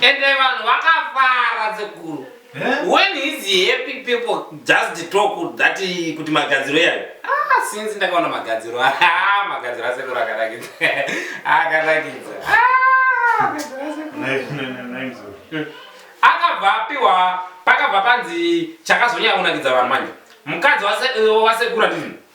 Ende vanhu vakafara sekuru. Eh? When is happy people just talk that kuti magadziro yayo. Ah, since ndakaona magadziro. Ah, magadziro asekuru akarakidza. Akarakidza. Ah, magadziro asekuru. Nai, nai, nai, nai, mzukuru. Hmm. Akabva apiwa pakabva panzi chakazonyanya kunakidza vanhu manje. Mukadzi wase- wasekuru atizvi.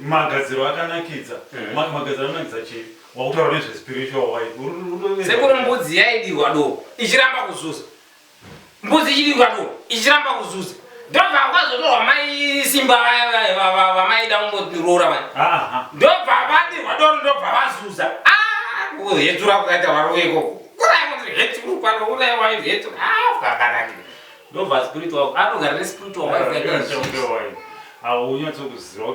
magadziro akanakidza hmm. magadziro akanakidza chii wakutaura nezvespiritual waisekuri mbudzi yaidirwa doko ichiramba kuzuza mbudzi ichidirwa doko ichiramba kuzuza ndobva kwazotorwa mai simba vamaida kumbotiroora vai ndobva vadirwa doro ndobva vazuza hedzura kukaita varoveko kurai kuti hedzuru pano urai waihedzura akanakira Ndova spiritual anogara ne spiritual wife yake izvi. Aunyatso kuziva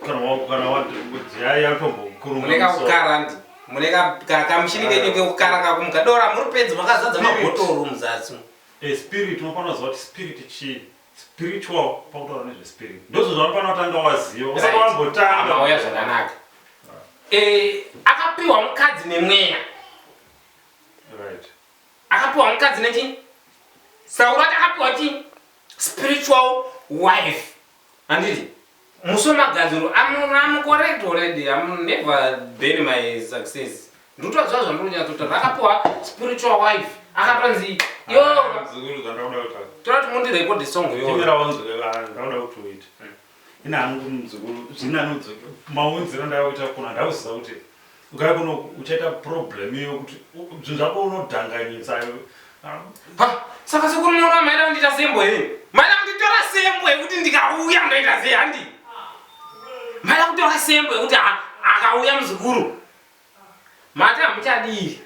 kana wako kana wati kuti yai yatombo kuruma. Muneka kukara ndi. Muneka kamushini kenyu kekukara kakumuka dora muri pedzi makazadza mabhotoro muzasi. E spirit unofanira kuziva kuti spirit chii spiritual pakutaura nezve spirit ndozvo zvavanofanira kutanga waziva usati wambotanga. Mauya zvakanaka. Eh akapiwa mukadzi nemweya. Right. Akapiwa mukadzi nechi Sauro ati akapiwa chi spiritual wife. Handiti musomagadziro I'm correct already I'm never bury my success. Ndotozva zvandonyatsotaura rakapiwa spiritual wife akatonzi yo ah, toda kuti mundirekode song yo. Ndimira wanzwe vanhu ndauda kuti uite. ina hangu muzukuru zvini anodzo maunziro ndakakuita kona ndauziva kuti ukaya kuno uchaita problem iyo kuti zvinhu zvako unodhanganyisa saka sekuru nona maida kundita sembo he maida kunditora sembo yekuti ndikauya ndoita sei handi maida kutora sembo yekuti akauya muzukuru mati hamuchadii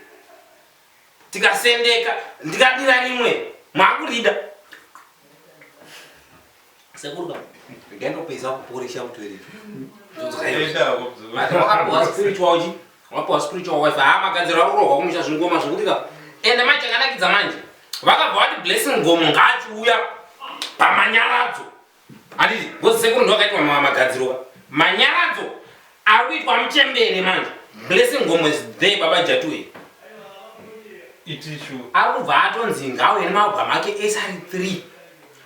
tikasendeka ndikadira rimwe makurida sekuru baba ndendopedza kuporesha kutoilet ndozokaiwakapuwa spiritual chi wakapuwa spiritual wife haa magadziro akurohwa kumusha zvingoma zvekuti ka ende mai chakanakidza manje vakabva vati blessing gomo ngaachiuya pamanyaradzo Handiti ngozi sekuru ndovakaitwa magadziroka manyaradzo ari kuitwa muchembere manje blessing ngomo is there baba jatu here itichu ari kubva atonzi ngauye nemaubwa make ese ari 3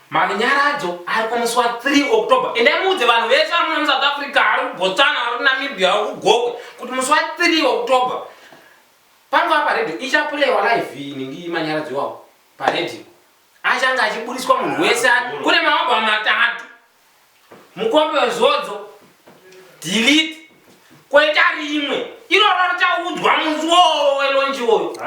manyaradzo ari kumuswa 3 october ende muudze vanhu vese ari muno musouth africa ari kubotsana ari kunamibia ari kugokwe kuti muswa 3 october panova paredhi ichapurewa live ini ndimanyaradzo iwawo paredhi Achange achiburitswa munhu wese kune maoba matatu mukombe wezodzo delete koita rimwe iroro richaudzwa munzi wowo welonji woyo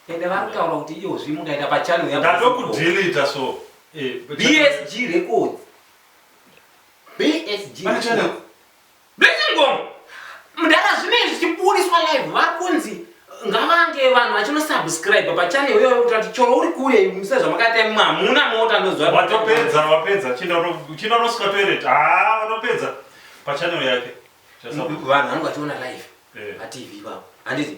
ende varikutaura kuti iyozvi mukaita pachannel yandatokudelita so eh, bsg records bsg Blessing Gomo mdara zvinei zvichibudiswa live vakunzi ngavange vanhu vachino subscribe pa channel iyoyo kuti ati choro uri kure muse zvamakaita imwe hamuna mota ndozwa watopedza wapedza chino roswa toilet haa watopedza pa channel yake vanhu vanenge vachiona live pa eh. tv ipapo handiti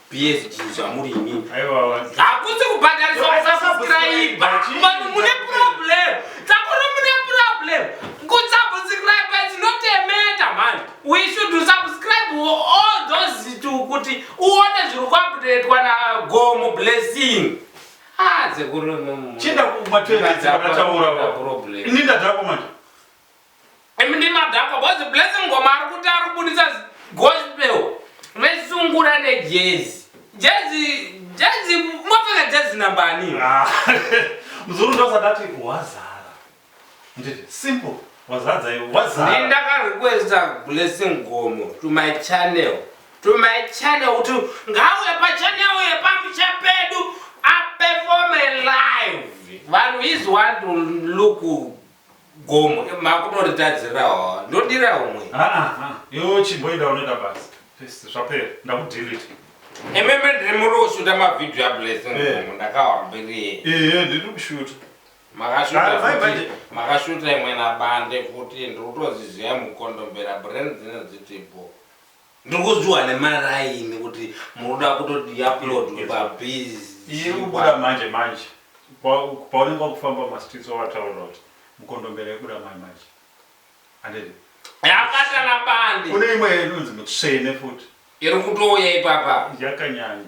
PSG zvamuri ini. Hakusi kubhadharisa kusubscribe. Vanhu mune problem. Takuru mune problem. Kusubscribe is not a matter man. We should subscribe all those to kuti uone zviri kuupdatewa na Gomo blessing. Ah, zekuru mumu. Chinda kumatera dzakataura. Problem. Ini ndadako manje. Imi ndimadhakwa bozi blessing ngoma ari kuti ari kubudisa gospel vesungura nejezi jezi jezi mopfeka jezi nambani Ah, muzukuru ndosandati wazara nditi simple wazadza iwe wazara ndindakarequesta blessing gomo to my channel to my channel kuti ngauye pachannel yepamusha pedu aperforme live vanhu is want to look Gomo makutoritadzirawo ndodira umwe. Ah ah, iwe chimboida unoita basi. First zvapera ndakudelete. Imeme ndiri muri kushuta mavideo ablessing gomo ndakawambiriye. Eh ndiri kushuta. Makashuta futi makashuta imwe nabande futi ndiri kutoziziva mukondombera brand dzine dzitipo. Ndiri kunzwiwa nemaraini kuti muri kuda kutoti iuploadwe paBizz. Iri kubuda manje manje paunenge wakufamba mumastreets wavataurira kuti mukondombera yobuda manje manje handiti? Yakabatana bande. Kune imwe inonzi mutsvene futi. Iri kutouya ipapa. Yakanyanya.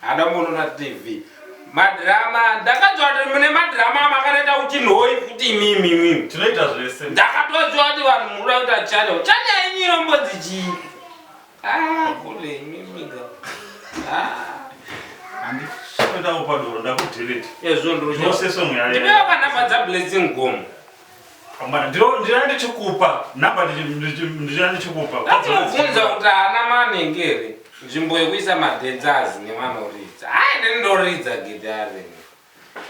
Hada mono na TV. Madrama ndakajwa kuti mune madrama makanaita kuti nhoi kuti imimi imimi. Tinoita zvese. Ndakatojwa kuti vanhu muruda kuita channel. Channel yenyu inombodzi chii? Ah, kule imimi ga. Ah. Andi shinda upadoro ndakudelete. Ezvo ndiro. Ndoseswe mweya. Ndipewa kana badza blessing gomo. Amana ndiro ndira ndichikupa number ndira ndichikupa. Ndinobvunza kuti ana manenge here nzvimbo yekuisa madhenzazi nevanoridza. Hai ndini ndoridza gitare.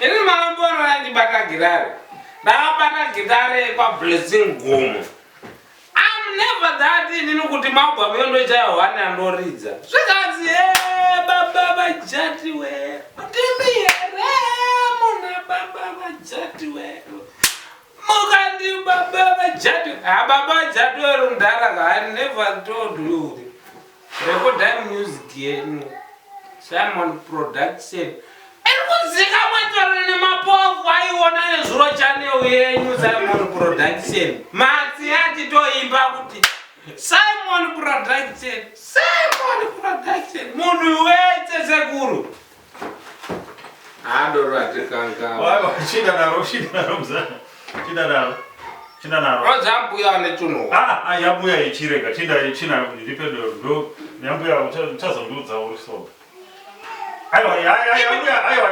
Ini mambo anoyandibata gitare. Ndakabata gitare kwaBlessing Gomo. I'm never that inini kuti mabwa mendo chaya one andoridza. Zvikanzi eh baba vajati we. Ndimi here muna baba vajati we. Mukandi baba vajati. Ah baba vajati we rundara I never told you. Rekodai music yenyu Simon Production iri kuzikamwa chero nemapofu aiona nezuro chanel yenyu Simon Production matsi atitoimba kuti Simon Production Simon Production munhu wese sekuru yambuya ichirega chinda china ndipe dodo yambuya uchazondiudza uri soba aiwa yambuya aiwa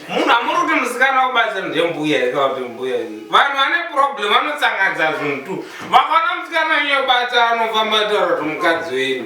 munhu amuri kuti musikana wobasa ndembuya ikauti mbuya vanhu vane problem vanotsangadza zvinhu tu vakaona musikana nyobata anofamba taura kuti mukadzi wenyu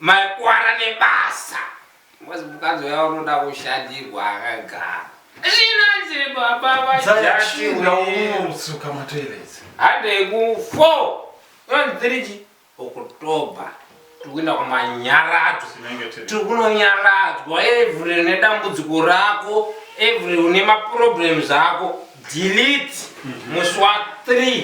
Makwara nebasa. Ngozi mukadzi uya unoda kushadirwa akagara. Zvinanzi baba vajati unomusuka matoiletsi. Hande ku 4 yonziriji October tikuenda kumanyaradzo tiri kunonyaradzwa every une dambudziko rako every une maproblems ako delete mm -hmm. muswa 3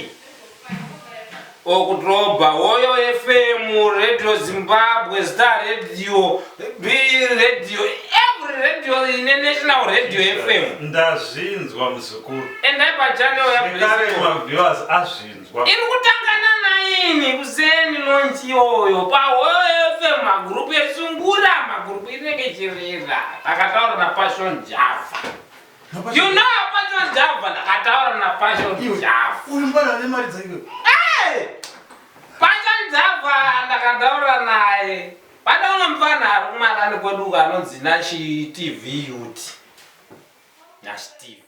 okudhorobha woyo fm radio zimbabwe star radio b radio every radio ine national radio fm ndazvinzwa muzukuru endai pachanel yakare maviewers azvinzwa iri kutangana naini kuseni lonchi iyoyo pahoyo fm magurupu esungura magurupu inenge chirera takataura napashon java You know Passion Java ndakataura na Passion Java. Uyu mwana ane mari dzaiwe. Eh! Passion Java ndakataura naye. Pane umwe mfana ari kumarani kwedu uko anonzi Nashi TV Youth. Nashi TV.